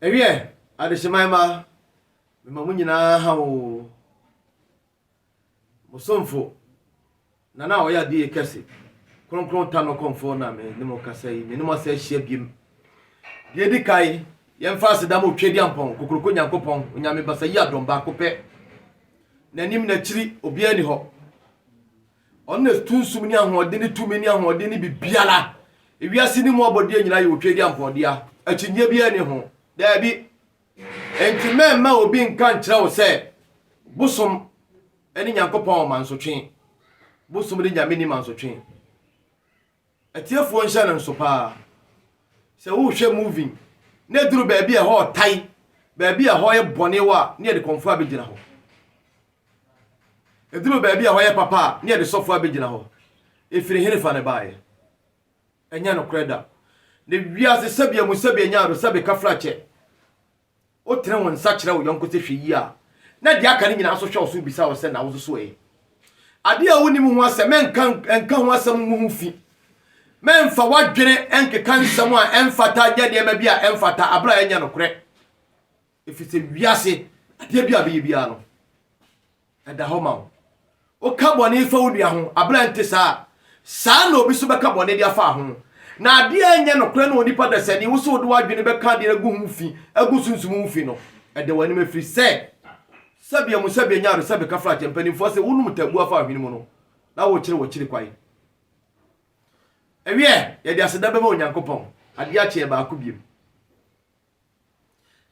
Ɛwiɛ, adehyeman mma, mema mo nyinaa ha oo. Mo somfo, Nana a ɔyɛ adiyɛ kɛse, Kronkron Tah no kɔmfoɔ na me ne mo kasa yi. Me ne mo asa ahyia biem. Deɛ edi kan, yɛmfa aseda ma Otwediampɔn, Kokoroko Nyankopɔn, Onyame Basa Yi Adɔm, Baako Pɛ, N'anim, N'akyiri, obiara nni hɔ. Ɔno na sunsum ne ahoɔden ne tumi ne ahoɔden ne biribiara. Wiase no mu abɔdeɛ nyinaa yɛ otwedeɛ mpɔɔdea. Akyinnyeɛ biara nni ho. Daabi. Enti mɛmma obi nka nkyerɛ wo sɛ bosom ne Nyankopɔn mansotwe. Bosom ne Nyame nni mansotwe. Atiefoɔ nhyɛ no nso paa. Sɛ wohwɛ movie na ɛduru baabi a ɛhɔ ɔtae, baabi a ɛhɔ yɛ bɔne wɔ a, ne yɛde kɔmfoɔ abɛgyina hɔ. Ɛduru baabi a ɛhɔ yɛ papa a, ne yɛde sɔfoɔ abɛgyina hɔ. Ɛfiri hene fa ne baeɛ? Ɛnyɛ nokorɛ da. Ne wiase sɛbea mu sɛbea nyaado sɛbe kafrakyɛ. Wotene wo nsa kyerɛ wo yɔnko sɛ hwɛ yie a, na deɛ aka no nyinaa nso hwɛ wo so bisa wo sɛ, na wo nso so ɛ? Adeɛ a wonnim ho asɛm, mɛnka nka ho asɛm ngu ho fi. Mɛmfa w'adwene nkeka nsɛm a ɛmfata nyɛ nneɛma bi a ɛmfata berɛ a ɛnyɛ nokorɛ. Ɛfiri sɛ wiase, adeɛ bi a bɛyɛ biara no, Ɛda hɔ ma wo. Woka bɔne fa wo nua ho, abere a ɛnte saa a, saa na obi nso bɛka bɔne de afa ho. Na adeɛ a ɛnyɛ nokorɛ ne onipa dasani, wo sɛ wode w'adwene bɛka adeɛ no agu ho fi, agu sunsum ho fi no, ɛda w'anim ɛfiri sɛ, Sɛbe amu sɛbe anya ado sɛbe kafra akyɛ mpanimfoɔ se wonom tabuo afa ahwene mu no na wokyere w'akyiri kwan. Ɛwiɛ, yɛde aseda bɛma Onyankopɔn, adeɛ akye yɛ baako biom.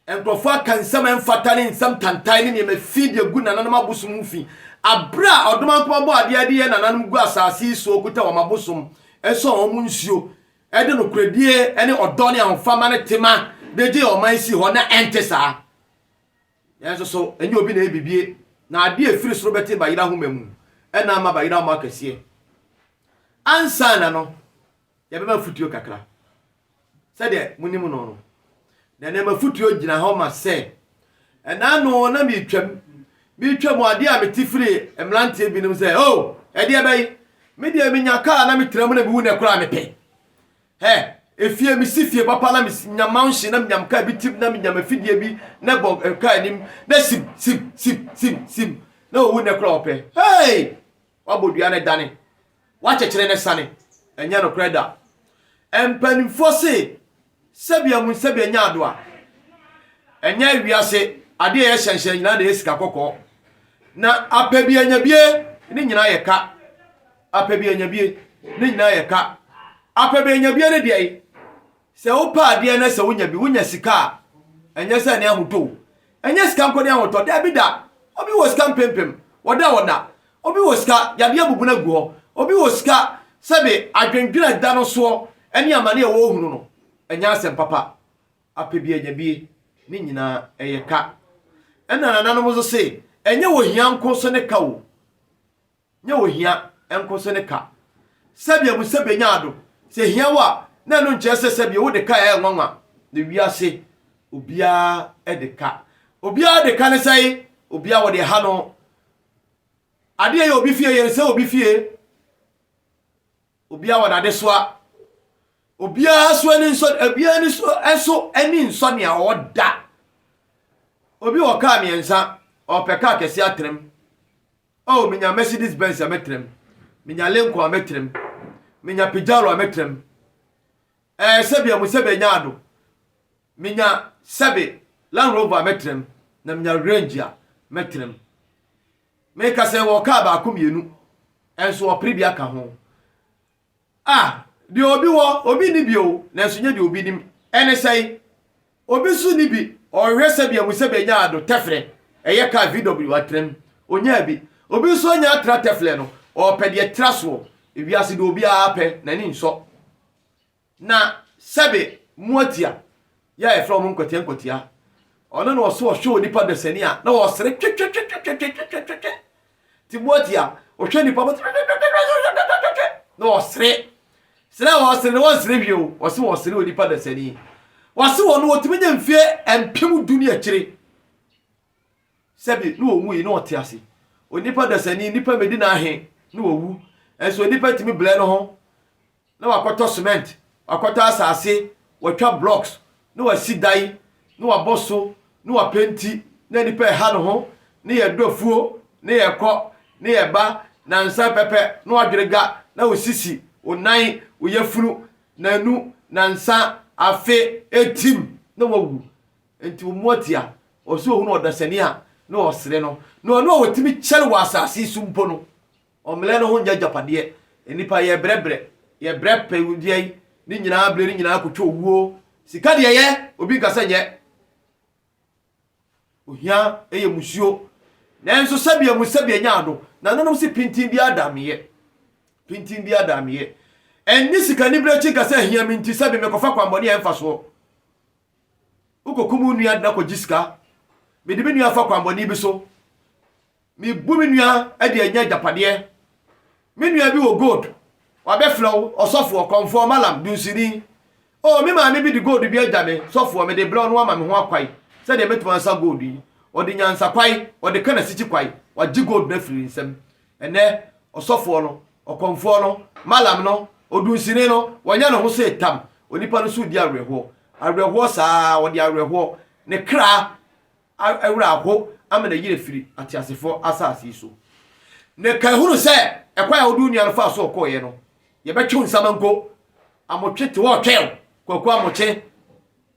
Nkurɔfo aka nsɛm a ɛmfata ne nsɛm tantan ne nneɛma fi de agu nananom abosom ho fi. Bere a ɔdom ankoma bɔ adeɛ de yɛ nananom gu asase yi so a ɔkuta wɔn abosom, sɔɔ wɔn nsuo, de nokorɛdie ne ɔdɔ ne ahofama ne tema de gyee ɔman sii hɔ, na ɛnte saa. Yɛn nso so, ɛnyɛ obi na ɛbibie, na adeɛ a ɛfiri soro bɛte bayerɛ ahoma mu, ɛna ama bayerɛ ahoma akɛseɛ. Ansa na no, Yɛbɛma afotuo kakra. Sɛdeɛ monim no no, na nneɛma afotuo gyina hɔ ma sɛ. Ɛna ano na meretwam, meretwam adeɛ a mete firi mmeranteɛ binom sɛ, o, oh, ɛdeɛ bɛyi, me deɛ menya kaa na metra mu na mewu na ɛkora mepɛ. Hɛ, efie mesi fie papa na menya mansion na menya kaa bi tim na menya mafidie bi na ɛbɔ eh, kaa anim na sim sim sim sim sim na owu na ɛkora ɔpɛ. Hey! Wabɔ dua no dane, wakyekyere no sane. Ɛnyɛ nokorɛ da. Mpanimfoɔ se, sɛbea mu sɛbea nya adoa. Ɛnyɛ wiase adeɛ a yɛhyɛnhyɛn nyinaa na ɛyɛ sika kɔkɔɔ. Na apɛ bi anya bie, ne nyinaa yɛ ka. Apɛ bi anya bie, ne nyinaa yɛ ka. Apɛ bi anya bie ne deɛ, Sɛ wopɛ adeɛ na sɛ wonya bi, wonya sika a, ɛnyɛ sɛ ne ahotɔ o. Ɛnyɛ sika nko ne ahotɔ. Daabi da. Obi wɔ sika mpempem, ɔda hɔ nna. Obi wɔ sika, yadeɛ abubu no agu hɔ. Obi wɔ sika, sɛbe adwendwene a ɛda no soɔ ne amane a ɔrehunu no, ɛnyɛ asɛm papa. Apɛ bi anya bi, ne nyinaa, ɛyɛ ka. Ɛna nananom nso se, ɛnyɛ ohia nko nso ne ka o. Nyɛ ohia nko so ne ka. Sɛdeɛ mo sɛ benya ado, sɛ hia wo a, na ɛno nkyerɛ sɛ sɛdeɛ wo de ka a ɛyɛ nwanwa na wiase obiara de ka. Obiara de ka ne sɛn? Obiara wɔ deɛ ɛha no. Adeɛ yɛ obi fie, yɛnsɛ obi fie. Obiara wɔ n'adesoa. Obiara so ani nsɔ, obiara ani so ɛso ani nsɔ nea ɔwɔ da. Obi wɔ kaa mmiɛnsa, ɔpɛ kaa kɛseɛ atrem. Oh menya Mercedes Benz a mɛtra mu, menya Lincoln a mɛtra mu, menya Pajaro a mɛtra mu, eh sɛbi ɔmo sɛbi anya ado, menya sɛbi Land Rover a mɛtra mu, na menya Range a mɛtra mu. Meka sɛ wɔ car baako mmienu, ɛnso ɔpere bi aka ho. A, deɛ obi wɔ, obi nni bi o, nanso nyɛ deɛ obi nim. Ɛne sɛn? Obi nso nni bi, ɔrehwɛ sɛdeɛ ahu sɛ bɛnya ado tɛfrɛ, ɛyɛ kaa VW atena mu. Ɔnyaa bi. Obi nso anya atra tɛflɛ no, ɔrepɛ deɛ ɛtra soɔ. Ewiase deɛ obiara pɛ, n'ani nsɔ. Na, sɛbe, moatia. yɛ a yɛfrɛ wɔn nkwatia nkwatia. Ɔno na ɔso ɔhwɛ onipa dasani a na ɔsere twetwetwetwetwetwetwetwetwe. Timoti a ɔhwɛ nipa bɔ twetwetwetwetwetwetwetwetwe na ɔsere. Sere a ɔsere no wɔnsere wie o, ɔse wɔsere onipa dasani. Wɔse wɔn no wɔtumi nya mfie mpem du ne akyire. Sɛbe na ɔwui na ɔte ase. Onipa dasani, nnipa mmɛdi no ahe na wawu. Nso onipa tumi brɛ ne ho na wakɔtɔ cement, wakɔtɔ asase, watwa blocks, na wasi dan, na wabɔ so, na wapenti, na nnipa ɛha ne ho, na yɛdɔ afuo, na yɛkɔ, na yɛba, na nsa pɛpɛ, na wadwere ga, na wo sisi, wo nan, wo yafunu, nanu, nansa, afe, atim, na wawu. Enti wɔn mu ɔtea a ɔsɛ ohunu ɔdasani a na ɔsere no, ne ɔno a ɔtumi kyɛre wɔ asase yi so mpo no, ɔmmerɛ no ho nyɛ agyapadeɛ. Nnipa, yɛbrɛ brɛ, yɛbrɛ pɛ deɛ yi, ne nyinaa berɛ no nyinaa kɔtwa owuo. Sika deɛ yɛ, obi nka sɛ nyɛ. Ohia yɛ musuo. Nanso sɛdeɛ mu sɛdeɛ nya ado, nananom se pintinn biara da meeɛ. Pintinn biara da meeɛ. Ɛnne sika anibere akyi nka sɛ ahia me nti sɛbe mekɔfa kwammɔne a ɛmfa soɔ. Wokokum wo nua na kogye sika. Mede me nua afa kwammɔne bi so. Mebu me nua de anya agyapadeɛ. Me nua bi wɔ gold, wabɛfrɛ wo ɔsɔfoɔ, kɔmfoɔ, malam, dunsini. Oh, me maame bi de gold bi agya me, sɔfoɔ, mede brɛ wo na woama me ho akwan sɛdeɛ mɛtumi ansa gold yi. Ɔde nyansakwan, ɔde ka n'asikyi kwan, wagye gold no afiri ne nsam. Ɛnnɛ, ɔsɔfoɔ no, ɔkɔmfoɔ no, malam no, odunsini no, wɔanya ne ho sɛ tam. Onipa no so redi awerɛhoɔ, awerɛhoɔ saa ara, ɔde awerɛhoɔ, ne kra werɛ aho ama no ayiri afiri ateasefoɔ asase yi so. Na kan hunu sɛ ɛkwan a wode wo nua no faa so a ɔkɔeɛ no, yɛbɛtwe wo nsamanko, amotwe te hɔ retwɛn wo, Kwaku Amokye.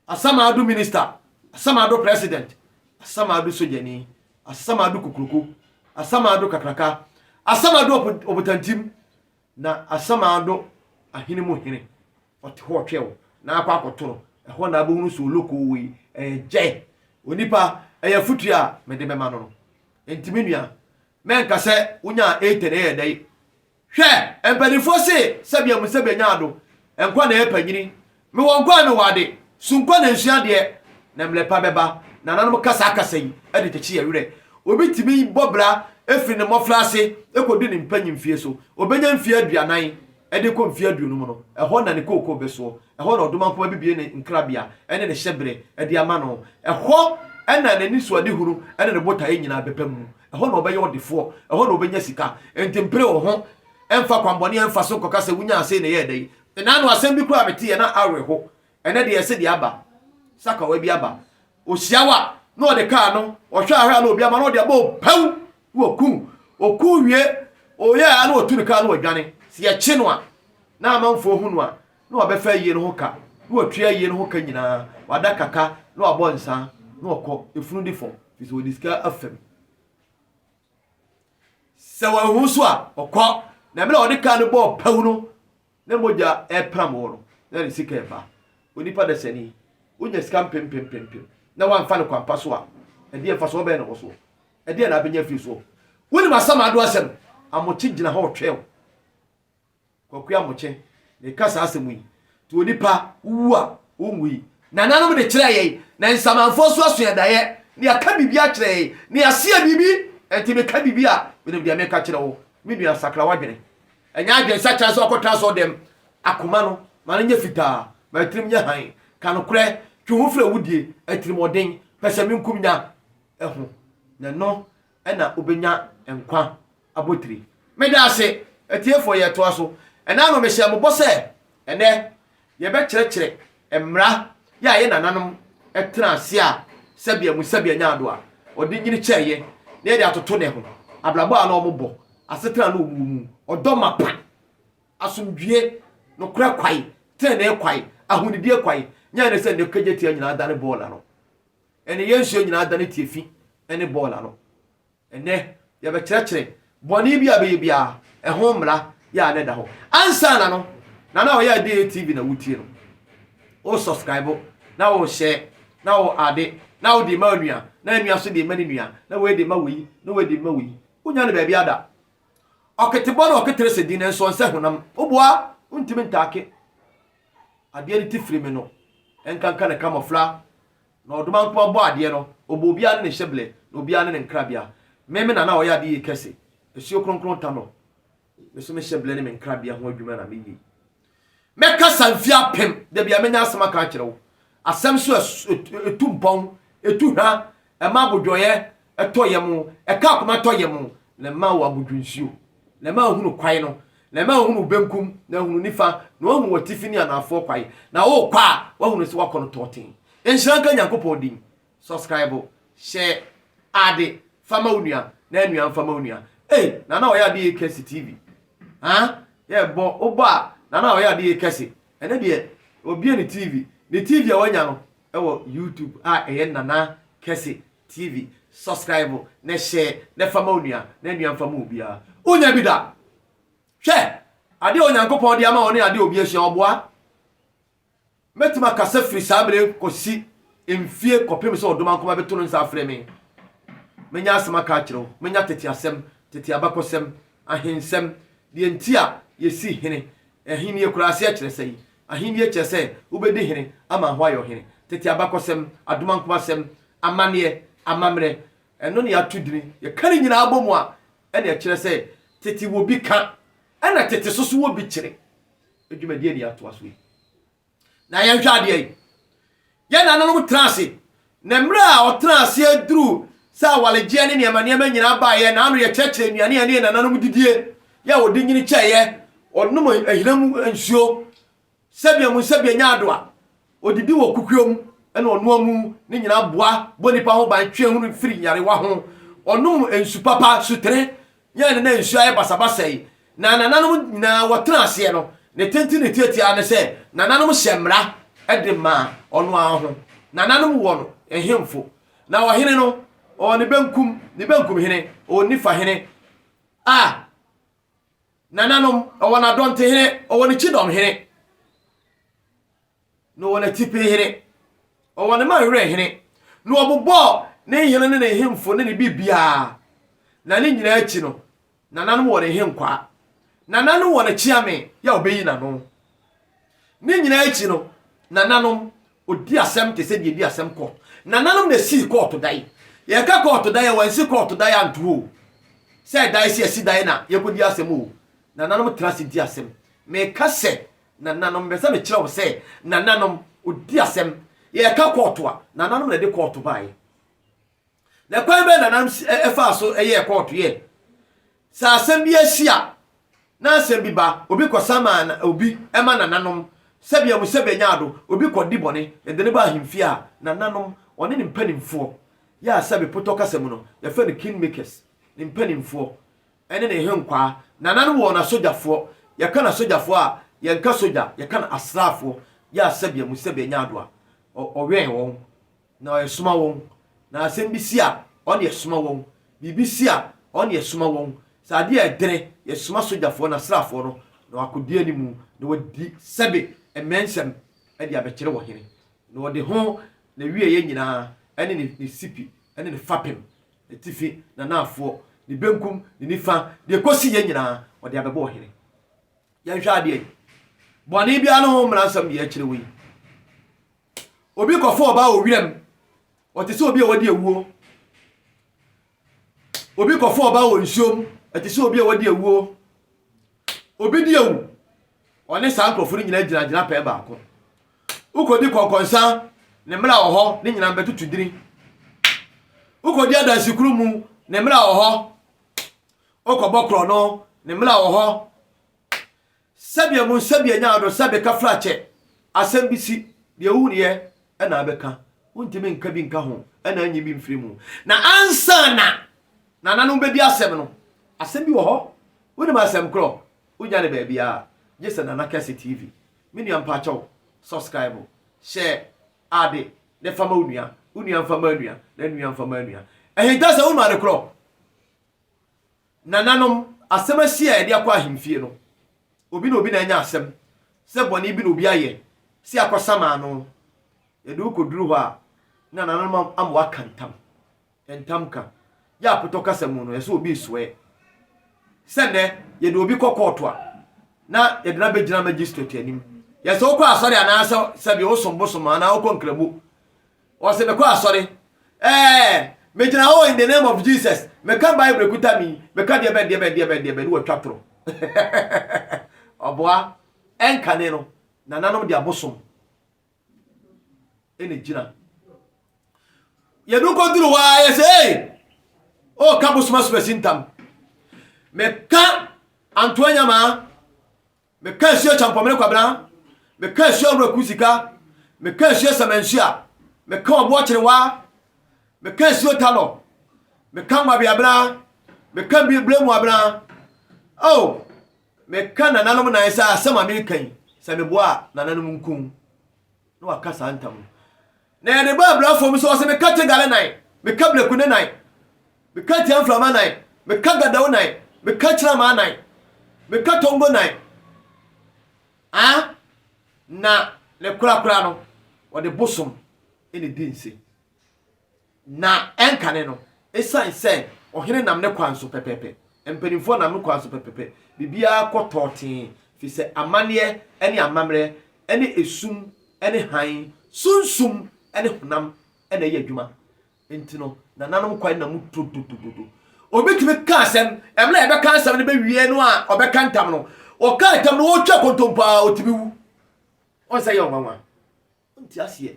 Asamado minister, Asamado president, Asamado sogyani, Asamado kokroko, Asamado kakraka, Asamado ɔbotantim, na Asamado ahene mu hene. Ɔte hɔ ɔtwe wo na akɔ akɔtoro. Ɛhɔ na abɛhunu sɛ oloko wei ɛyɛ gyɛ. Onipa, ɛyɛ afotu a mede bɛma no no. Enti me nua, mɛnka sɛ wonyaa 8 na ɛyɛ dɛn? Hwɛ, mpaninfoɔ se sɛ bia mu sɛ benya ado, nkwa na ɛyɛ panyini, me wɔ nkwa a me wɔ ade, su nkwa na nsua adeɛ, na mlɛ pa bɛba, nananom ka saa kasa yi de kyekye yɛn werɛ. Obi tumi bɔ bra firi ne mmɔfra ase kɔdu ne mpanyin mfie so, obenya mfie aduanan de kɔ mfie aduonu mu no, ɛhɔ na ne kookoo bɛsoɔ, ɛhɔ na ɔdomankoma bebue ne nkrabea ne ne hyɛberɛ de ama no, ɛhɔ na n'anisoadehunu ne ne botaeɛ nyinaa bɛba mu, Ɛhɔ na ɔbɛyɛ ɔdefoɔ, ɛhɔ na ɔbɛnya sika. Enti mpere wo ho mfa kwammɔne mfa so nkɔka sɛ wonyaa sei na ɛyɛɛ dɛn. Nna ano asɛm bi koraa meteeɛ na awereho, ɛnnɛ deɛ ɛse deɛ aba, sakawa bi aba. Ɔhyia wo a, na ɔde kaa no, ɔhwɛ a hwɛ a na obi ama na ɔde abɔ wo pɛw na waku wo. Ɔku wo wie, ɔyɛ a na watu ne kaa na wadwane. Sɛ yɛkye no a, na amanfoɔ hu no a, na ɔbɛfa ayie no ho ka, na watwi ayie no ho ka nyinaa, wada kaka, na wabɔ nsa, na ɔkɔ efunu de fam, firi sɛ wɔde sika afam. Sɛ wɔahu nso a, ɔkɔ, na mmerɛ a ɔde kaa no bɔɔ pawu no, na mogya ɛrepram wɔ no, na ne sika ɛba. Onipa dasani, wonya sika mpempempempem, na woamfa no kwampa so a, ɛdeɛ mfasoɔ bɛn na wɔ soɔ? Ɛdeɛ na abɛnya afiri soɔ? Wonim asamado asɛm? Amokye gyina hɔ retwɛn wo. Kwaku Amokyɛ na ɛka saa asɛm yi. Nti onipa wu a, ɔnwui. Nananom de kyerɛɛ yɛn, na nsamanfoɔ nso asua daeɛ, na yɛaka biribi akyerɛ yɛn, na yɛaseɛ biribi. Ɛnti meka biribi a, menim deɛ meka kyerɛ wo. Me nua, sakra w'adwene. Ɛnyɛ adwene sakyera sɛ wakɔtena asɔɔdɛm. Akoma no, ma no nyɛ fitaa. Ma atirim nyɛ hann. Ka nokorɛ. Twe wo ho firi awudie, atirimuɔden, pɛsɛmenkomnya ho. Na ɛno na wobɛnya nkwa abotire. Meda ase, atiefoɔ, yɛtoa so ɛna no mehyɛ mo bɔ sɛ ɛnɛ yɛbɛkyerɛkyerɛ mmara yɛ a yɛ nananom tena ase a sɛbea mu sɛbea nyaado a ɔde nyini kyɛɛyɛ na yɛde atoto ne ho, abrabɔ a na wɔn bɔ, asetena a na wɔn wɔ mu, ɔdɔ mapa, asomdwie, nokorɛ kwae, tenenee kwae, ahonidie kwae, nyɛ ne sɛ nnɛ kagyatia nyinaa adane bɔɔla no. ne yɛn nsuo nyinaa dane tiafi ne bɔɔl ano. Ɛnnɛ, yɛbɛkyerɛkyerɛ bɔne bi a ɛbɛyɛ biara, ɛho mmara yɛ a na ɛda hɔ. Ansa na no, na na ɔyɛ Adeɛ TV na wotie no. Wo subscribe, na wo share, na wo ade, na wode ma onua, na onua so de ma ne nua, na wei de ma wei, na wei de ma wei. Wonya no baabi ada. Ɔketebɔ na ɔketere sɛ din nanso ɔnsɛ honam. Woboa, wontumi ntaake. adeɛ no ti firi me no nkanka ne kamɔfla, na ɔdoma nko abɔ adeɛ no, ɔbɔ obiara ne ne hyɛblɛ, na obiara ne ne nkrabea. Me, me na na ɔyɛ adeyie kɛse, asuo kronkron ta no, me nso me hyɛblɛ ne me nkrabea ho adwuma na meyie. Mɛkasa mfie apem, da bia mɛnya asɛm aka akyerɛ wo, asɛm so ɛtu mpɔn, ɛtu hwa, ɛma abodwoeɛ, tɔ yam, ɛka akoma tɔ yam, na ɛma wo abodwonsuo, na ɛma wohunu kwae no, na ɛma wohunu wo benkum, na wohunu nifa, na woahunu w'atifi ne anaafoɔ kwae, na worekɔ a, woahunu sɛ woakɔ no tɔɔten. Nhyira nka Nyankopɔn din. Subscribe, share, ade, fa ma wo nua, na nua mfa ma wo nua. Ei, Nana ɔyɛ ade yie kɛse TV. Haa, yɛbɔ, wobɔ a, Nana ɔyɛ ade yie kɛse. Ɛnɛ deɛ, obie ne TV. Ne TV a wanya no, ɛwɔ YouTube a ɛyɛ Nana kɛse. TV subscribe na share na fa ma onua na nua mfa ma obiara wonya bi da hwɛ ade a onyankopɔn de ama ɔne ade a obi ahyia ɔboa mɛtumi akasa firi saa bere kɔsi mfie kɔpem sɛ ɔdoma nkoma bɛto no nsa afrɛ me menya asɛm aka akyerɛ wo menya tete asɛm tete abakɔsɛm ahensɛm deɛ nti a yɛsi hene Ahenni akuraaseɛ kyerɛ sɛn? Ahenni kyerɛ sɛ wobɛdi hene ama hɔ ayɛ ɔhene. Tete abakɔsɛm, adomankomasɛm, amanneɛ, amammerɛ, ɛno ne ato dini. Yɛka ne nyinaa bɔ mu a, ɛne ɛkyerɛ sɛ tete wɔ bi ka, ɛna tete soso wɔ bi kyere. Dwumadie ni a ɛtoa so yi. Na yɛnhwɛ adeɛ yi, yɛn nananom tena ase, na mmerɛ a ɔtena aseɛ duruu sɛ awaregyeɛ ne nneɛma nneɛma nyinaa baeɛ, na ano yɛ kyerɛkyerɛ nnuane a ɛne yɛn nananom didie yɛ a ɔde nyini kyɛeɛ, ɔnom ahina mu nsuo, sɛbea mu sɛbea nya ado a, ɔdidi wɔ kukuo mu na ɔnoa mu, ne nyinaa boa bɔ nipa ho ban twe hunu firi nyarewa ho, ɔnom nsu papa, sutere, Nyan na nsu ayɛ basabasa yi, na nananom nyinaa wɔtena aseɛ no, ne tenten ne tiatia ara ne sɛ nananom hyɛ mmara de ma ɔno ara ho. Nananom wɔ no nhemfo, na ɔhene no ɔwɔ ne benkum, ne benkum hene ɔwɔ nifa hene, a nananom ɔwɔ n'adɔntehene ɔwɔ ne kyidɔmhene. Na ɔwɔ n'atifi hene. Ɔwɔ ne man werɛ hene. Na ɔbobɔɔ ne hene ne ne hemfo ne ne biribiara. Na ne nyinaa akyi no, nananom wɔ ne henkwaa. Nananom wɔ ne kyeame yɛ a ɔbɛyi n'ano. Ne nyinaa akyi no, nananom, ɔdi asɛm te sɛ deɛ ɛdi asɛm kɔ. Nananom na ɛsii kɔɔto dan. Yɛka kɔɔto dan a, wɔansi kɔɔto dan anto hɔ o. Sɛ ɛdae sɛ yɛasi dan na yɛkɔdi asɛm o, nananom tra ase di asɛm. Meka sɛ Nananom, mepɛ sɛ mekyerɛ wo sɛ nananom, odi asɛm. Yɛreka kɔɔto a, nananom na ɛde kɔɔto baeɛ. Na kwan bɛn nananom ɛfaa so ɛyɛɛ kɔɔto yɛ? Sɛ asɛm bi asi a, na asɛm bi ba, obi kɔsa ma obi ɛma nananom, sɛbea mu sɛbea nya ado, obi kɔdi bɔne, yɛde no ba ahemfie a, nananom, ɔne ne mpanimfoɔ, yɛ a sɛbe potɔ kasa mu no, yɛfrɛ no kingmakers, ne mpanimfoɔ, Ɛne ne henkwaa. Nananom wɔ wɔn asogyafoɔ. Yɛka no asogyafoɔ a, yɛnka sogya, yɛka no asraafoɔ. Yɛ a sɛbea mu sɛbea nya ado a, ɔwɛn wɔn, na ɔresoma wɔn. Na asɛm bi si a, ɔne ɛsoma wɔn. Biribi si a, ɔne ɛsoma wɔn. Sɛ adeɛ a ɛdene, yɛsoma sogyafoɔ no, asraafoɔ no, na wɔakɔdi anim, na wɔadi sɛbe mmɛ nsɛm de abɛkyere ɔhene. Na ɔde ho, n'awieeɛ nyinaa, ne ne sipi, ne ne fapem, atifi, n'anaafoɔ, ne benkum, ne nifa, deɛ ɛkɔsiiɛ nyinaa, ɔde abɛbɔ ɔhene. Yɛnhwɛ adeɛ yi. Bɔne biara ne ho mmara nsɛm deɛ ɛkyerɛ wo yi. Obi kɔfo ɔbaa wɔ wiram, ɔte sɛ obi a wadi awuo. Obi kɔfo ɔbaa wɔ nsuom, ɛte sɛ obi a wadi awuo. Obi di awu, Ɔne saa nkurɔfo no nyinaa gyina gyinapɛn baako. Wokodi kɔnkɔnsa, ne mmara wɔ hɔ, ne nyinaa bɛtutu dini. Wokodi adansikuru mu, ne mmara wɔ hɔ. Wokɔbɔ korɔ no, ne mmara wɔ hɔ. Sɛdeɛ mu nsɛdeɛ nya ado sɛ beka fira kyɛ, asɛm bi si, deɛ wohuniɛ ɛna abɛka. Wontumi nka bi nka ho ɛna anyi bi mfiri mu. Na ansa na nananom bɛdi asɛm no, asɛm bi wɔ hɔ. Wonim asɛm korɔ? Wonya no baabiara gye sɛ Nana Kɛse TV. Me nua mpakyɛw subscribe, hyɛ ade ne fa ma wo nua, wo nua nfa ma anua, na anua nfa ma anua. Ahinta sɛ wonu ade korɔ. Nananom, asɛm asi a yɛde akɔ ahemfie no, obi ne obi na anya asɛm sɛ bɔne bi na obi ayɛ sɛ yɛakɔsam ano. Yɛde wo kɔduru hɔ a, na nananom ama woaka ntam. Ntamka, Yɛ apotɔ kasa mu no, ɛsɛ sɛ obi resoɛ. Sɛ nnɛ, yɛde obi kɔ kɔɔto a, na yɛde no abɛgyina magistrate anim. Yɛ sɛ wokɔ asɔre anaasɛ sɛbi wosom bosom anaa wokɔ nkramu. Ɔse mekɔ asɔre, ɛɛ, megyina hɔ in the name of Jesus, meka Bible ɛkuta me yi, meka deɛ bɛn deɛ bɛn deɛ bɛn deɛ bɛn ne watwa toro. Ɔboa, ɛnkane no, nananom de abosom. ɛna gyina yɛdu kɔduru hɔ a yɛsɛ ee ɔka oh, bosoma sopɛsi ntam meka antoa nyamaa meka asuo kyampɔmene kwabena meka asuo awuraku sika meka asuo samansuo a meka ɔboɔ kyerewa meka asuo talɔ meka nwabeabena meka bilemu abena oh Meka nananom nan sɛ asɛm a mereka yi, sɛ meboa a, nananom nkum. Na waka saa ntam no. Na yɛde ba abira fam so, ɔsɛ meka Tegale nan, meka Brekune nan, meka Tiamframa nan, meka Gadao nan, meka Kyiramaa nan, meka Tongo nan. Ah, na ne korakora no, wɔde bosom na di nse. Na ɛnkane no, esiane sɛ ɔhene nam ne kwan so pɛpɛɛpɛ, mpanimfoɔ nam ne kwan so pɛpɛɛpɛ, biribiara kɔ tɔɔtee, ɛfiri sɛ amanneɛ ne amammerɛ ne esum ne hann, sunsum ne honam na ɛyɛ adwuma. Enti no, nananom kwan nna mu dododododo. Obi tumi ka asɛm, ɛberɛ a yɛbɛka asɛm no bɛwie no a ɔbɛka ntam no, ɔka ntam no ɔretwa kontompo a ɔtumi wu. Ɔnsɛ yɛ ɔnwanwa. Wonte aseɛ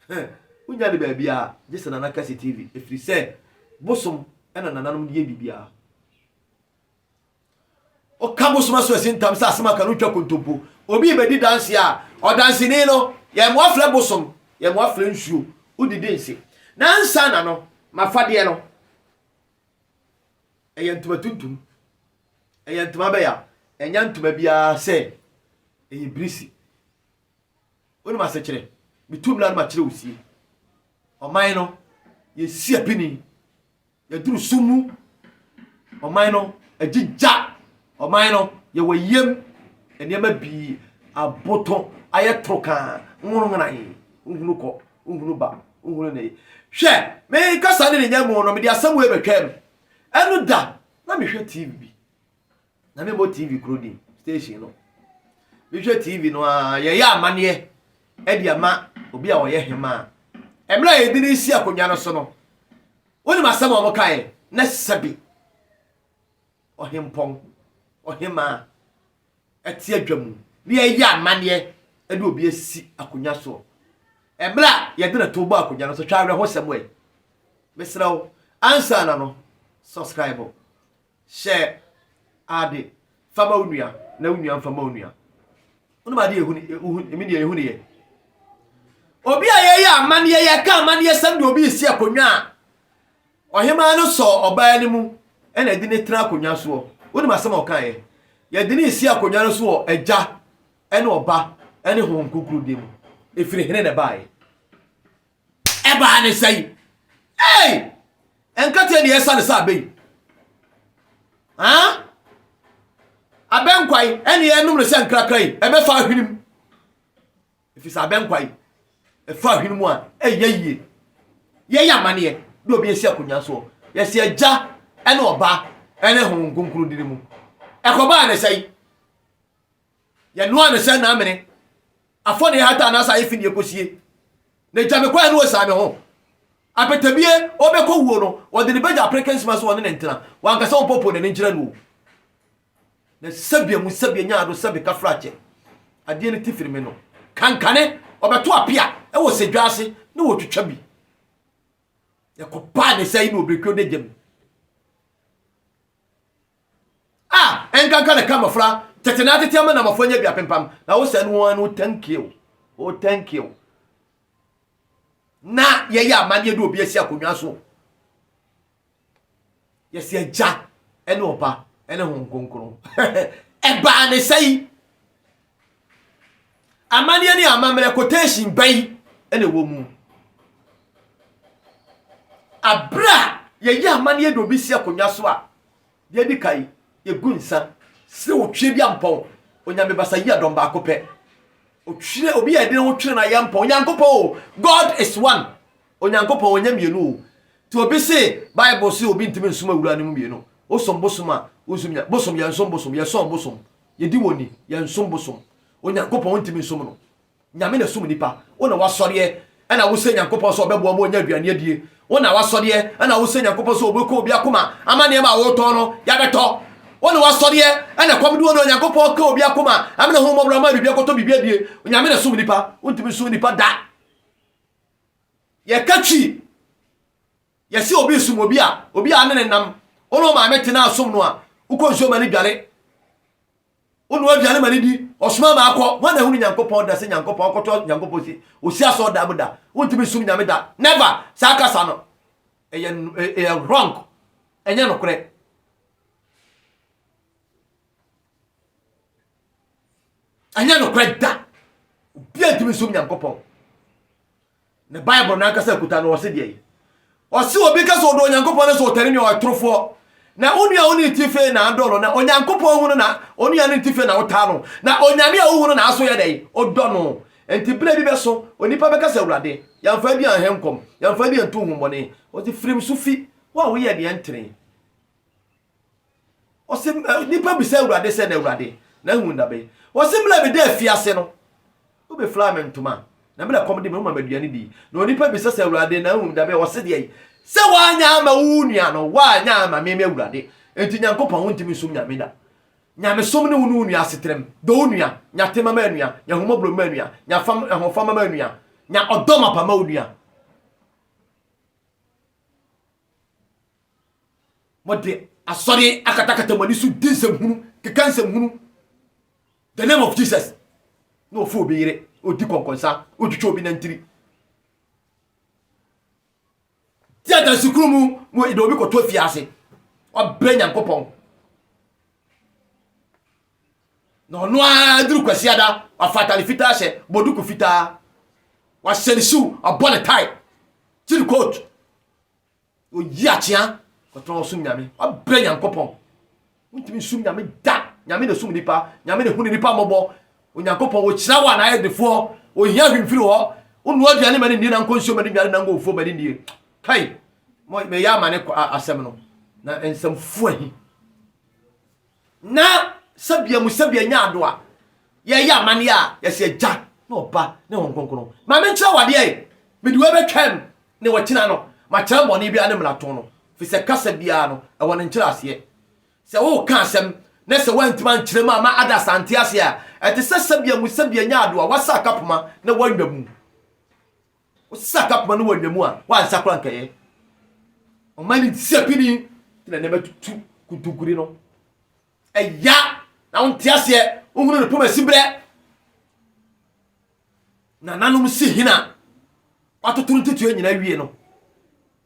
huh. Wonnya no baabiara gye sɛ Nana Kɛse TV ɛfiri sɛ bosom ɛna nananom de yɛ biribiara. Woka bosom aso asi ntam sɛ asɛm aka no wotwa kontompo. Obi rebɛdi danseɛ a ɔdanseni no yɛn mo afrɛ bosom yɛn mo afrɛ nsuo wodidi nse. Nansa na no mafadeɛ no ɛyɛ ntoma tuntum ɛyɛ ntoma bɛya ɛnya ntoma biara sɛ ɛyɛ birisi. Wonim asekyerɛ? Metu mmra no makyerɛ wo sie. Ɔman no, yɛsi apini. Yɛduru sum mu. Ɔman no, agyigya. Ɔman no, yɛwɔ yam. Nneɛma bi aboto ayɛ toro kaa. Nwono nwonan. Nhunu kɔ. Nhunu ba. Nhunu ne. Hwɛ, menkasa ne ne nyamu no, mede asɛm wei bɛtwam. Ɛno da, na mehwɛ TV bi. na memmɔ tv kuro din station no mehwɛ tv no a yɛyɛ amanneɛ ɛde ama obi a ɔyɛ hemaa mmerɛ a yɛde no si akonnwa no so no wonim asɛm a wɔkaeɛ na sɛbi ɔhempɔn ɔhemaa ɛte adwa mu ne yɛyɛ amanneɛ ɛde obi asi akonnwa soɔ mmerɛ a yɛde no to bɔ akonnwa no so twa awerɛhosɛm ɛ mesrɛ wo ansa na no subscribe Hyɛ ade, fa ma wo nua, na wo nua mfa ma wo nua. Wonom adeɛ ɛhu ne, ɛmi deɛ ɛhu ne yɛ. Obi a yɛyɛ amanneɛ, yɛka amanneɛ sɛm de obi resi akonnwa a, ɔhemaa no sɔ ɔbaa no mu, ɛna ɛde ne tena akonnwa soɔ. Wonom asɛm a ɔkaeɛ? Yɛde ne si akonnwa no so wɔ agya, ɛne ɔba, ɛne honhom kronkron din mu. Ɛfiri hene na ɛbaeɛ. Ɛbaa ne sɛn? Ei! Nkate deɛ ɛsane sɛ abɛ yi. Haa? Abɛ nkwa yi, ɛne ɛnom no sɛ nkrakra yi, ɛbɛfa ahwene mu. Ɛfiri sɛ abɛ nkwa yi, ɛfa ahwene mu a, ɛyɛ yie. Yɛyɛ amaneɛ, de obi asi akonnwa soɔ. Yɛsi agya ɛne ɔba ɛne honhom kronkron dini mu. Ɛkɔbaa ne sɛn? Yɛnoaa no sɛ n'amene. Afɔdie hata anaasɛ ayɛ fi ne yɛkɔsie. Na gya me kɔɛ ne ɔsaa me ho. Apetabie ɔbɛkɔ wuo no, ɔde ne bɛgya apereke nsima so ɔne no ntena. Wankasa ɔmpɔpɔ n'ani nkyerɛ no o. Na sɛbea mu sɛbea nya ado sɛ meka fra kyɛ. Adeɛ no ti firi me no. Kankane ɔbɛto apea wɔ sɛdwa ase ne wɔtwitwa bi. Ɛkɔpaa ne sɛ yi ne ɔbɛkuo da gya mu. A ɛnkanka na ka mmɔfra tete na atete ama na mmɔfra nya bi apempam na wo sɛn wɔn no thank you oh thank you na yɛyɛ amanneɛ de obi asi akonnwa so yɛsi agya ɛne ɔba ɛne ho nkonkron ɛbaa ne sɛ yi Amanneɛ ne amammerɛ quotation bɛn na ɛwɔ mu? Abere a yɛyɛ amanneɛ de obi si akonnwa so a, deɛ edi kan, yɛgu nsa srɛ otwie bi ampɔn, Onyame basa yi adɔm baako pɛ. Otwie, obi a yɛde ne ho twere no a yɛmpɔn, Onyankopɔn o, God is one. Onyankopɔn ɔnyɛ mmienu o. Nti obi se, Bible se obi ntumi nsom awura no mu mmienu. Wosom bosom a, wonsom nya, bosom yɛnsom bosom, yɛsɔn bosom, Yɛdi wɔn ni, yɛnsom bosom. Onyankopɔn wontumi nsom no. Nyame na ɛsom nnipa. Wo na woasɔreɛ ɛna wosɛ Nyankopɔn sɛ ɔbɛboa ma ɔnya aduane adie. Wo na woasɔreɛ ɛna wosɛ Nyankopɔn sɛ ɔbɛku obi akoma ama nneɛma a wotɔn no yɛabɛtɔ. Wo na woasɔreɛ ɛna ɛkɔm de wo na Onyankopɔn ka obi akoma ama no ahummɔborɔ ama biribi akɔtɔ biribi adie. Nyame na ɛsom nnipa. Wontumi nsom nnipa da. Yɛka twi Yɛse obi som obi a, obi a ne ne nam. Wo ne wo maame te na asom no a, wokɔ nsuo ma no dware. Wonoa aduane ma no di, ɔsoma ma akɔ. Hwan na ahunu Nyankopɔn da sɛ Nyankopɔn akɔtɔ Nyankopɔn si? Osi asɔɔ da mu da. Wontumi nsom Nyame da. Never! Saa kasa no, ɛyɛ ɛyɛ wrong. Ɛnyɛ nokorɛ. Ɛnyɛ nokorɛ da. Obiara ntumi nsom Nyankopɔn. Na Bible no ankasa akuta no, ɔse deɛn? Ɔse obi ka sɛ ɔdɔ Onyankopɔn na sɛ ɔtane nua ɔyɛ torofoɔ. Na wo nua wo ne ti fee na adɔ no, na Onyankopɔn hunu na onua ne ti fee na wotaa no, na Onyame a wohunu na aso yɛ dɛn? Odɔ no. Nti berɛ bi bɛso, onipa bɛka sɛ Awurade, yɛmfa adi anhɛ nkɔm, yɛmfa adi antu honhommɔne. Ɔse firim so fi, wo a woyɛ deɛ ɛntene. Ɔse nipa bisa Awurade sɛ na Awurade na ahu nna bɛn. Ɔse mena meda afiase no wobe fly me ntoma na mena kɔm de me woma me aduane di. Na onipa bisa sɛ Awurade na ahu nna bɛn ɔse deɛ sɛ wanya ama wo nua no wanya ama me me Awurade enti Nyankopɔn wo ntimi nsom Nyame da. Nyamesom ne wo ne wo nua asetrem. Dɔ wo nua, nya tema ma anua, nya ahumɔborɔ ma anua, nya fam ahofama ma anua, nya ɔdɔ mapa ma wo nua. Mode asɔre akatakata mo ani so di nsɛm hunu, keka nsɛm hunu. The name of Jesus. Na ofu obi yere, odi kɔnkɔnsa, otwitwa obi nantiri. Ti adansi kuru mu, mo de obi kɔtɔ fie ase. Ɔbrɛ Nyankopɔn. Na ɔno ara duru kwasiada, wafa atare fitaa hyɛ, bɔ duku fitaa. Wahyɛ ne shoe, ɔbɔ ne tie, kyiri coat. oyi akyea kɔtɔn ɔsom nyame ɔbrɛ nyankopɔn wontumi sum nyame da nyame na sum nipa nyame na hunu nipa mmɔbɔ onyankopɔn wɔkyira wo a naayɛ defoɔ ohia hwimfiri hɔ wonoa aduane ma ne nnie na nkɔ nsuo ma ne nnuane na nkɔ ofuo ma ne nnie kai mɛyɛ ama ne asɛm no na nsɛmfoɔ ahi Na sɛ bia mu sɛ bia nya ado a, yɛyɛ amaneɛ a, yɛsɛ agya ne ɔba ne Honhom Kronkron. Ma menkyerɛ wo adeɛ, mede wei bɛtwam ne ɔkyena no, makyerɛ mmɔne biara ne mmarato no, firi sɛ kasa biara no, ɛwɔ ne nkyerɛaseɛ. Sɛ woreka asɛm na sɛ woantumi ankyerɛ mu amma others ante aseɛ a, ɛte sɛ sɛ bia mu sɛ bia nya ado a woasa akapoma na woanwa mu. Wosesa akapoma no wɔ nna mu a, woansa koraa nkɛyɛ. Ɔma ne nsia pini te na nneɛma tutu kutuguri no. Ɛya na wonte aseɛ, wohunu ne poma siberɛ. Nananom si hena watoto no tutuɛ nyina wie no.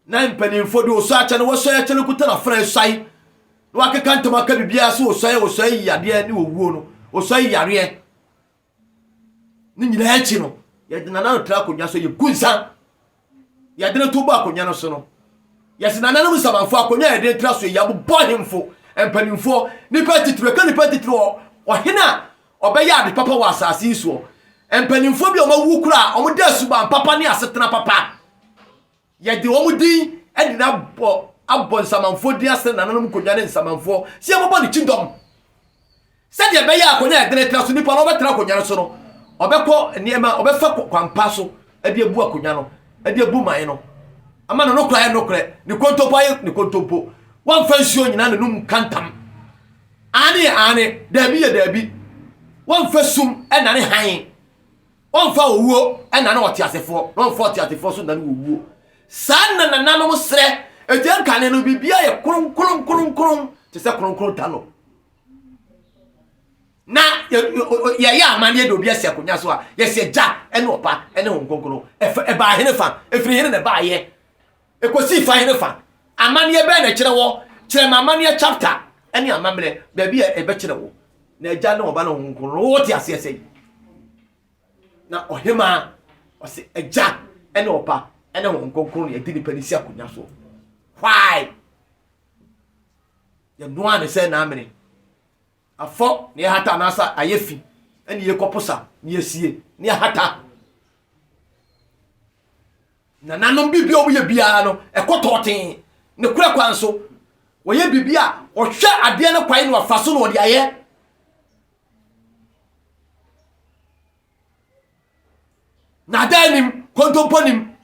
Na mpanimfoɔ de osɔ akyɛ no, wɔsɔe akyɛ no kuta no afena esuae na wakeka ntam aka biribiara so osɔe, osɔe yadeɛ ne owuo no, osɔe yareɛ. ne nyinaa akyi no yɛde nana no tra akonnwa so yɛku nsa yɛde no to bɔ akonnwa no so no yɛse nananom nsamanfo akonnwa a yɛde tra so yi abobɔ ahemfo mpanimfoɔ nipa titiri ɛka nipa titiri wɔ ɔhene a ɔbɛyɛ ade papa wɔ asase yi soɔ mpanimfoɔ bi a wɔawu koraa wɔde asuban papa ne asetena papa Yɛde wɔn din nyinaa bɔ abɔ nsamanfoɔ din ase na nananom nkonnwa ne nsamanfoɔ sɛ yɛbɛbɔ ne kyidɔm. Sɛdeɛ ɛbɛyɛ a akonnwa a ɛdene tena so nipa no ɔbɛtena akonnwa no so no, ɔbɛkɔ nneɛma, ɔbɛfa kwampa so de abu akonnwa no, de abu man no, ama ne nokorɛ ayɛ nokorɛ, ne kontompo ayɛ ne kontompo. Wɔmfa nsuo nyina n'anom nka ntam. Aane yɛ aane, daabi yɛ daabi. Wɔmfa sum nnane hann. Ɔmfa owuo nnane ɔteasefoɔ, na ɔmfa ɔteasefoɔ nso nnane owuo. Saa na nananom srɛ. Agya nkane no, biribiara yɛ kronkron kronkron te sɛ kronkron da no. Na yɛyɛ amanneɛ de obi asi akonnwa so a, yɛsi agya ne ɔba ne ho kronkron. Ɛbaa hene fa, ɛfiri hene na ɛbaayɛ. Ɛkɔsii fa hene fa. Amanneɛ bɛn na ɛkyerɛ wɔ? Kyerɛ me amanneɛ chapter ne amammerɛ baabi a ɛbɛkyerɛ wo na agya ne ɔba ne honhom kronkron no wowɔ te aseɛ sɛ yi na ɔhemaa ɔse agya ne ɔba ne honhom kronkron ne ɛde nipa no si akonnwa soɔ why yɛnoa ne sɛ naamene afɔ ne yɛhata anaasa ayɛ fi ne yɛkɔposa ne yɛsie ne yɛhata Nananom biribi a wɔyɛ biara no, ɛkɔ tɔɔtee. Ne korɛ kwan so, wɔyɛ biribi a ɔhwɛ adeɛ no kwan na wafa so na ɔde ayɛ. Naadaa nim, kontompo nim.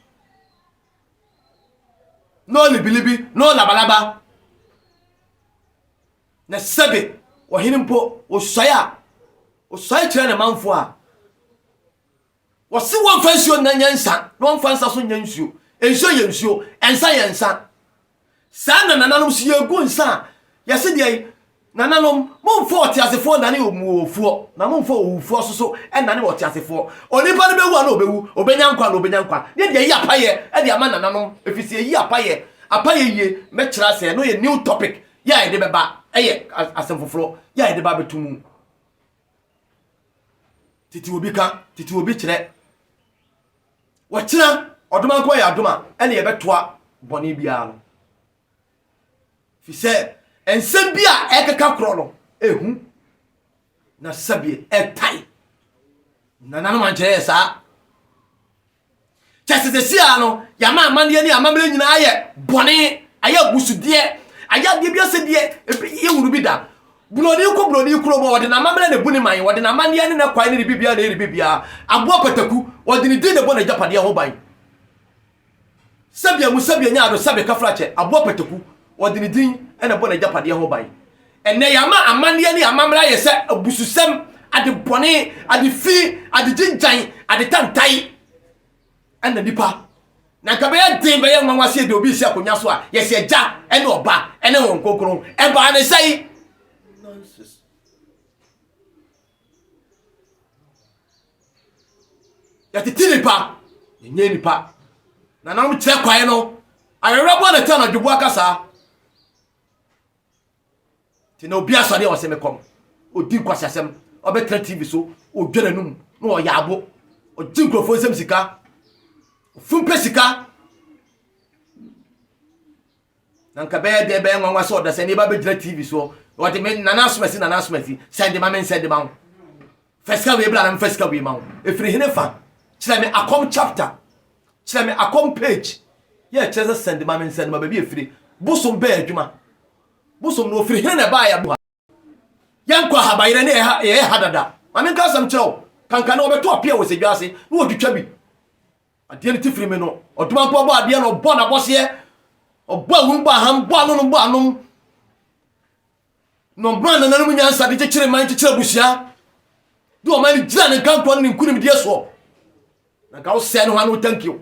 No libilibi, no labalaba. Na sɛbe ɔhene mpo, ɔsuae a, ɔsuae kyerɛ ne manfoɔ a. Wɔse wɔmfa nsuo nna nyɛ nsa na wɔmfa nsa so nyɛ nsuo. Nsuo yɛ nsuo, nsa yɛ nsa. Saa na nananom nso yɛgu nsa a yɛse deɛn? Nananom, momfa ɔteasefoɔ nnane owuofoɔ, na momfa owufoɔ nso so nnane ɔteasefoɔ. Onipa no bɛwu a na ɔbɛwu, ɔbɛnya nkwa a na ɔbɛnya nkwa. Ne deɛ yi apaeɛ de ama nananom, ɛfiri sɛ ɛyi apaeɛ. Apaeɛ yie, mɛkyerɛ asɛ, ɛno yɛ new topic yɛ a yɛde bɛba, ɛyɛ asɛm foforɔ yɛ a yɛde ba abɛto mu. tete obi ka tete obi kyerɛ wɔkyena ɔdoma nko yɛ adoma ɛne yɛbɛtoa bɔne biara no fi sɛ nsɛm bi a ɛkeka korɔ no ehu na sɛbeɛ ɛtae nananom ankyerɛ yɛ saa Kyɛ sɛ sɛsi ara no, yɛama amanneɛ ne amammerɛ nyinaa ayɛ bɔne, ayɛ abusudeɛ, ayɛ adeɛ bi asɛ deɛ ebi yɛhunu bi da. Buroni kɔ buroni kurom a, ɔde n'amammerɛ na ɛbu ne man, ɔde n'amanneɛ ne n'akwan ne ne biribiara na ɛyɛ ne biribiara. Aboa pataku, ɔde ne din na ɛbɔ n'agyapadeɛ ho ban. Sɛbea mu sɛbea nya ado sɛbe kafrakyɛ, aboa pataku, ɔde ne din na ɛbɔ n'agyapadeɛ ho ban. Ɛnnɛ, yɛama amanneɛ ne amammerɛ ayɛ sɛ abususɛm, ade bɔne, ade fi, ade gyingyan, ade tantae. Ɛnna nnipa, na anka ɛbɛyɛ den, bɛyɛ nwanwa sɛ yɛde obi resi akonnwa so a yɛse Agya ne Ɔba ne Honhom Kronkron. Ɛbaa ne sɛn? Yɛtete nnipa, yɛnyɛ nnipa. Nananom kyerɛ kwae no, awerɛwerɛboɔ na ɛte anadwoboa kasa. nti na obi asɔre a ɔsɛ mekɔ no ɔdi nkwaseasɛm ɔbɛtena tv so ɔdwa n'anum na ɔyɛ abo ɔgye nkurɔfoɔ nsɛm sika ɔfumpɛ sika na nka bɛyɛ dɛ bɛyɛ nwanwa sɛ ɔdasani ba bɛgyina tv soɔ ɔde me nana asomasi nana asomasi sɛnde ma me nsɛnde ma ho Fa sika wei bra na mfa sika wei ma wo. Ɛfiri hene fa? Kyerɛ me akɔm chapter. Kyerɛ me akɔm page. Yɛ kyerɛ sɛ sɛnde ma me nsɛnde ma baabi ɛfiri. Bosom bɛn adwuma? Bosom no ɔfiri hene na ɛbaa yɛ aboa. Yɛnkɔ ahabayerɛ ne yɛyɛ ha dada. Ma menka asɛm kyerɛ wo. Kanka ne wɔbɛtɔ apia wɔ sɛdwa ase ne wɔtwitwa bi. Adeɛ no ti firi me no. Ɔdoma mpo ɔbɔ adeɛ no ɔbɔ n'abɔseɛ. Ɔbɔ awum bɔ aham bɔ ano no bɔ anom. na ɔmaa nananom nyansa de kyekyere man kyekyere abusua de ɔman no gyina ne nkantoɔ ne ne nkonimdie soɔ na nka wosɛe no hɔ ano thank you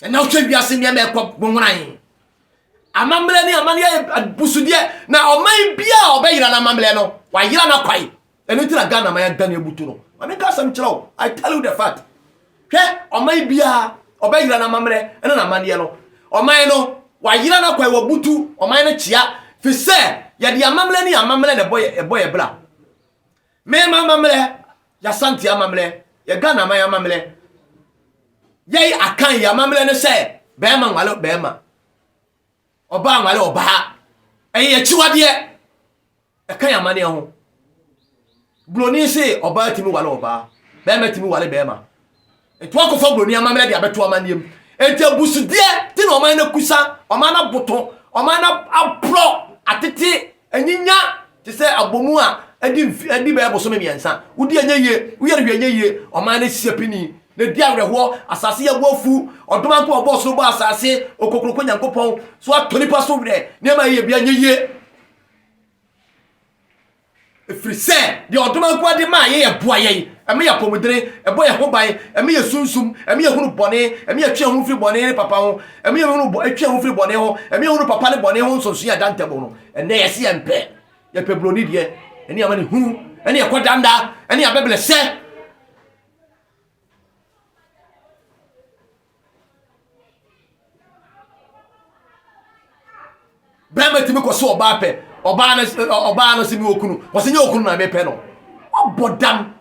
ɛna wohwɛ wiase nneɛma ɛkɔ bonworan amammerɛ ne amane yɛ abusudeɛ na ɔman bia a ɔbɛyera no amammerɛ no wayera no akwae ɛno nti na ghana man adan abutu no ma menka asɛm kyerɛ wo i tell you the fact hwɛ ɔman biara ɔbɛyera no amammerɛ ne n'amanneɛ no ɔman no wayera no akwae wabutu ɔman no kyea fi sɛ yɛde amammerɛ ne amammerɛ na ɛbɔ yɛ bra mema amammerɛ yɛasante amammerɛ yɛ ghana man amammerɛ yɛyi akan yɛ amammerɛ ne sɛ bɛrima nwale bɛrima Ɔbaa anware ɔbaa. Ɛyɛ akyiwadeɛ. Ɛka yɛn amanneɛ ho. Buroni se ɔbaa tumi ware ɔbaa. Bɛrima tumi ware bɛrima. Nti wakɔfa buroni amammerɛ de abɛto amanneɛ mu. Nti abusudeɛ ti na ɔman no akusa, ɔman no aboto, ɔman no aporɔ, atete Anyinya te sɛ abɔmu a adi mfe adi bɛyɛ bosome mmiɛnsa. Wodi ɛnyɛ yie, woyɛ no hwee ɛnyɛ yie. Ɔman no asi apini, na edi awerɛhoɔ. Asase yɛ boɔ afu. Ɔdom anko a ɔbɔɔ soro bɔɔ asase, Okokuroko Nyankopɔn, so atɔ nnipa so werɛ. Nneɛma a ɛyɛ biara nyɛ yie. Ɛfiri sɛ deɛ ɔdom anko a de maa yɛn ɛboa yɛn, ɛma yɛn apɔmuden, ɛbɔ yɛn ho ban, ɛma yɛsunsum, ɛma yɛhunu bɔne, ɛma yɛtwe yɛn ho firi bɔne ne papa ho. Ɛma yɛhunu bɔ, ɛtwe yɛn ho firi bɔne ho. Ɛma yɛhunu papa ne bɔne ho nsonsonoe a ɛda ntam no. Ɛnnɛ yɛse yɛmpɛ. Yɛpɛ buroni deɛ, ɛne amanehunu, ɛne ɛkɔdanda, ɛne abɛbrɛsɛ. Barima tumi kɔ so ɔbaa pɛ. Ɔbaa no eh, ɔbaa no sɛ mi okunu. Wɔsɛ nyɛ okunu na mepɛ no. Wabɔ dam.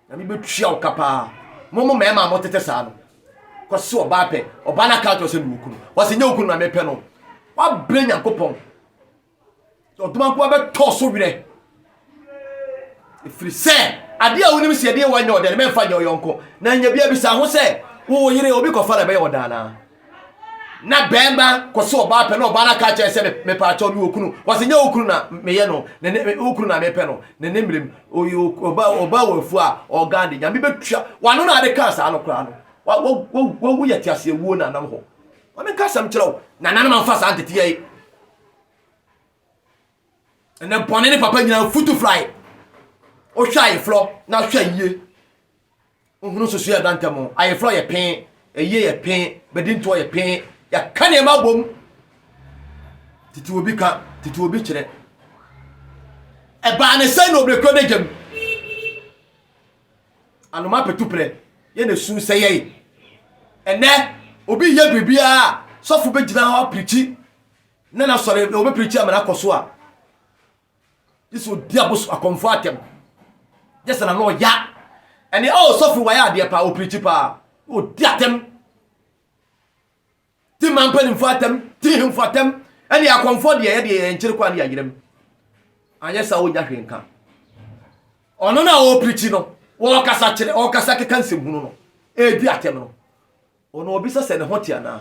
Na mebɛtua wo ka paa. Mo mo mmarima a motete saa no. Kɔ so ɔbaa pɛ. Ɔbaa no aka kyerɛ sɛ mi okunu. Wɔsɛ nyɛ okunu na mepɛ no. Wabrɛ Nyankopɔn. Ɔdomankoa bɛtɔ so werɛ. ɛfiri sɛ adeɛ a wonim sɛ ɛdeɛ wanyɛ ɔdɛ no mɛmfa nyɛ ɔyɔnko na nya bia bisa ho sɛ wo yere obi kɔfa na ɛbɛyɛ ɔdaa naa na bɛrima kɔso ɔbaa pɛ na ɔbaa no aka kyerɛ sɛ mepaakyɛw me okunu wɔsɛ nyɛ okunu na meyɛ no ne ne okunu na mepɛ no ne ne mmerem ɔbaa ɔbaa wɔ afuo a ɔgan de nyame bɛtua wano na ade kaa saa no koraa no wawu yɛ te aseɛ wuo na anam hɔ ɔne nka asɛm kyerɛ wo na nanom amfa saa nteteyɛ yi ɛnɛ bɔne ne papa nyinaa futu fly wohwɛ ayeforɔ na hwɛ ayie wohunu susu yɛ dantɛ mu ayeforɔ yɛ pee ayie yɛ pee bɛdi ntoɔ yɛ pee yɛka nneɛma abom tete obi ka tete obi kyerɛ ɛbaa ne sɛ na obirekuo no gyam anoma petu prɛ yɛ na su sɛ yɛe ɛnɛ obi yɛ biribiaa sɔfo bɛgyina hɔ apirikyi Na n'asɔre na wɔbɛpirikyi ama no akɔ so a, gye sɛ ɔdi abosom akɔmfoɔ atɛm. Gye sɛ n'ano ɔya. Ɛne, oh, sɔfo wayɛ adeɛ paa, ɔpirikyi paa, ɔdi atɛm. Ti mmaa mpanimfoɔ atɛm, ti hemfoɔ atɛm, ɛne akɔmfoɔ deɛ yɛ deɛ yɛnkyere kwan ne yɛayerɛ mu. Anyɛ saa ɔnya hwee nka. Ɔno no a ɔpirikyi no, wɔkasa kyerɛ, ɔkasa keka nsɛmhunu no, ɛredi atɛm no, ɔno ɔbisa sɛ ne ho te anaa?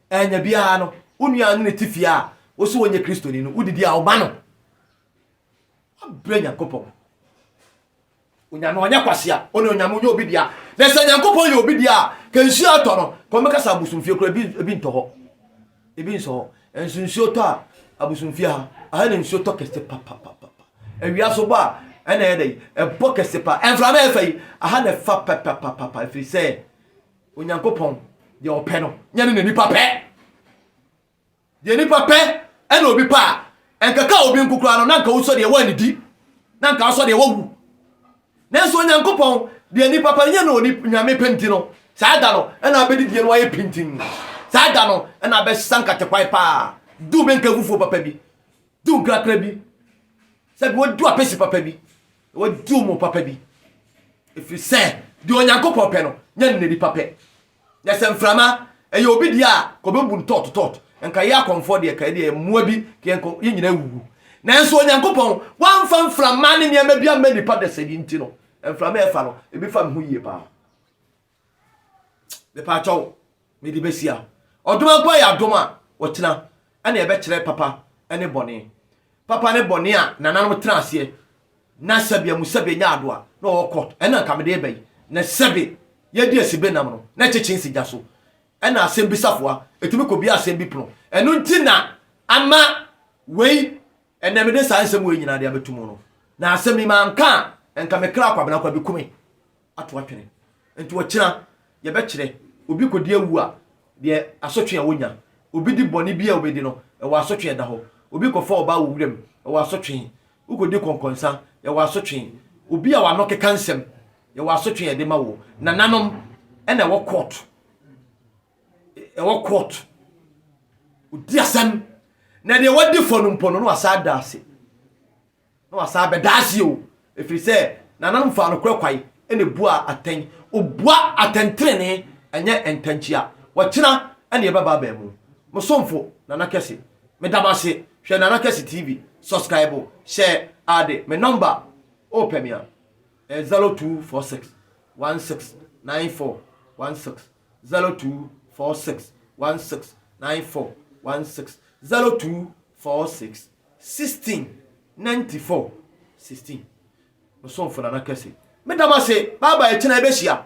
Ɛnyɛ biara no, wo nua a ɔne no te fie a wo so ɔnyɛ Kristoni no, wodidi a woma no. Woabrɛ Nyankopɔn. Onyame ɔnyɛ kwasea, ɔne Onyame ɔnyɛ obi dea. Na sɛ Nyankopɔn yɛ obi dea a, ka nsuo a ɛtɔ no, kɔn bɛka sɛ abosomfie kora ebi, ebi ntɔ hɔ. Ebi nsɔ hɔ. Ɛnso nsuo tɔ a, abosomfie ha, aha na nsuo tɔ kɛse papapapa. Awia so bɔ a, ɛna ɛyɛ dɛ, ɛbɔ kɛse pa. Ɛmframa ɛfa yi, aha na ɛfa papapapa, ɛfiri sɛ, Onyankopɔn, deɛ ɔpɛ no, nyɛ ne na nipa pɛ. Deɛ nipa pɛ ɛna obi pɛ a, ɛnkaka obi nko koraa no, na nka wosɔ deɛ ɛwɔ anidi, na nka wosɔ deɛ ɛwɔ wu. Nanso Onyankopɔn, deɛ nipa pɛ no, nyɛ na onyame pɛ nti no, saa da no ɛna abɛdi deɛ no ayɛ pintin. Saa da no ɛna abɛsa nkatekwae paa, du bɛnka afufuo papa bi, du nkrakra bi, sɛ bi wadu apɛsi papa bi. Wɔadi wɔn papa bi, ɛfiri sɛ deɛ Onyankopɔn pɛ no, nyɛ no n'anipa pɛ. Na sɛ mframa ɛyɛ obi deɛ a, ka ɔbɛbu no tɔɔtotɔɔto. Nka yɛ akɔmfoɔ deɛ, ka ɛdeɛ mmoa bi, ka yɛn kɔ, yɛn nyinaa awuwu. Nanso Onyankopɔn, wamfa mframa ne nneɛma bi amma nnipa dasani nti no, mframa a ɛfa no, ebi fa me ho yie paa. mepaakyɛw mede bɛsia ɔdom ankɔ yɛ adom a wɔtena ɛna ɛbɛkyerɛ papa ne bɔne papa ne bɔne a nananom tena aseɛ na sɛbi amu sɛbi nya ado a na ɔwɔ kɔt ɛna nka mede bɛyi na sɛbi yɛdi asibe nam no na ɛkyekye nsi gya so ɛna asɛm bi safoa ɛtumi kɔ bia asɛm bi pono ɛno nti na ama wei ɛnɛ mede saa nsɛm wei nyinaa de abɛtu mu no na asɛm yi manka a nka mekra kwabena kwa bi kume ato atwene. Nti ɔkyena yɛbɛkyerɛ. Obi kɔdi awu a, deɛ asotwe a ɔnya. Obi di bɔne bi a ɔbɛdi no, ɛwɔ asotwe ɛda hɔ. Obi kɔfa ɔbaa wɔ wuram, ɛwɔ asotwe. Wokɔdi kɔnkɔnsa, ɛwɔ asotwe. Obi a w'ano keka nsɛm, ɛwɔ asotwe a yɛde ma wo. Nananom ɛna ɛwɔ court, ɛwɔ court. Ɔdi asɛm, na deɛ wadi fɔ no mpo no, na wasa ada ase. Na wasan abɛda ase o, ɛfiri sɛ n'ananom faa nokorɛ kwan na ɛbuaa atɛn. Ɔbua atɛntenenee, ɛnyɛ ntɛnkyea. Ɔkyena na yɛbɛba abɛn mu. Mo somfo, Nana Kɛse. Meda mo ase. Hwɛ Nana Kɛse TV. Subscribe, hyɛ ade. Me nɔmba, wopɛ me a, ɛyɛ 0246 16 9416, 0246 16 9416, 0246. Sixteen ninety four sixteen Mo somfo Nana Kɛse, meda mo ase, bye bye, ɛkyena yɛbɛhyia.